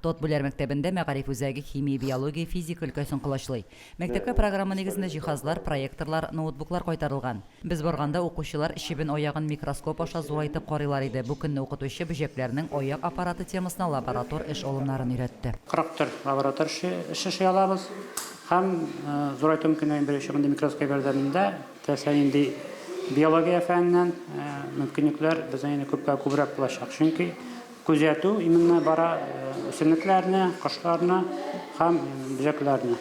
Тотбүләр мәктәбендә мәгариф үзәге химия-биология, физика өлкәсен колачлый. Мәктәпкә программа нигезендә җиһазлар, проекторлар, ноутбуклар кайтарылган. Без барганда укучылар чебен-аягын микроскоп аша зурайтып карыйлар иде, бу көнне укытучы бөҗәкләрнең аяк аппараты темасына лаборатор эш алымнарын өйрәтте. 44 лаборатор эш эшли алабыз һәм зурайту мөмкинлеген бирүче мондый микроскоп ярдәмендә теләсә нинди биология фәненнән мөмкинлекләр безнең инде күпкә күбрәк булачак, чөнки Күзәтү именно бара үсемлекләрне, кошларны һәм бөҗәкләрне.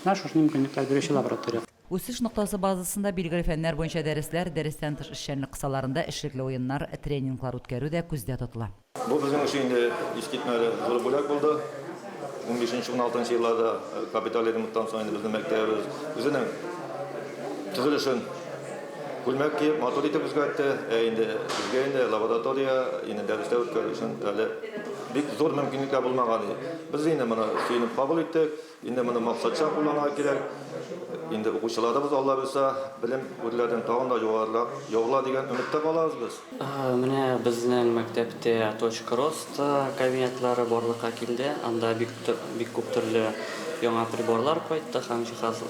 Менә шушы мөмкинлекләр бирүче лаборатория. Үсеш ноктасы базасында билгеле фәннәр буенча дәресләр, дәрестән тыш эшчәнлек кысаларында эшлекле уеннар, тренинглар үткәрү дә күздә тотыла. Бу безнең өчен инде искитмәле зур бүләк булды. Унбишенче-уналтынчы елларда капиталь ремонттан соң инде безнең мәктәбебез үзенең төзелешен, Күлмәк киеп, матур итеп үзгәртте. Ә инде безгә инде лаборатория, инде дәресләр үткәрү өчен әле бик зур мөмкинлекләр булмаган иде. Без инде моны сөенеп кабул иттек. Инде моны максатчан кулланырга кирәк. Инде укучыларыбыз, Алла боерса, белем гүрләрен тагын да югарырак яулар дигән өметтә калабыз без. Менә безнең мәктәптә Точка роста кабинетлары барлыкка килде. Анда бик бик күп төрле яңа приборлар кайтты һәм җиһаз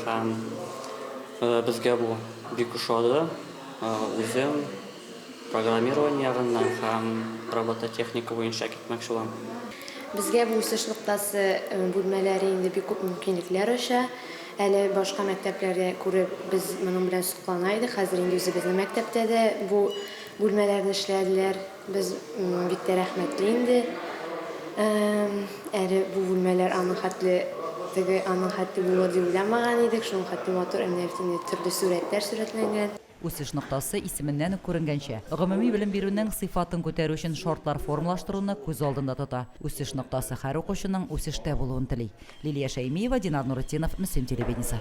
һәм. Безгә бу бик ошады. Үзем программирование ягыннан һәм робототехника буенча китмәкче булам. Безгә бу үсеш ноктасы бүлмәләре инде бик күп мөмкинлекләр ача. Әле башка мәктәпләрдә күреп, без моның белән соклана идек. Хәзер инде үзебезнең мәктәптә дә бу бүлмәләрне эшләделәр. Без бик тә рәхмәтле инде. Әле бу бүлмәләр аның хәтле теге аның хәтле булыр дип уйламаган идек. Шуның хәтле матур әниләр инде төрле сурәтләр сурәтләнгән. Үсеш ноктасы исеменнән үк күренгәнчә, гомуми белем бирүнең сыйфатын күтәрү өчен шартлар формалаштыруны күз алдында тота. Үсеш ноктасы һәр укучының үсештә булуын тели. Лилия Шәймиева, Динар Нуретдинов, Мөслим телевидениесе.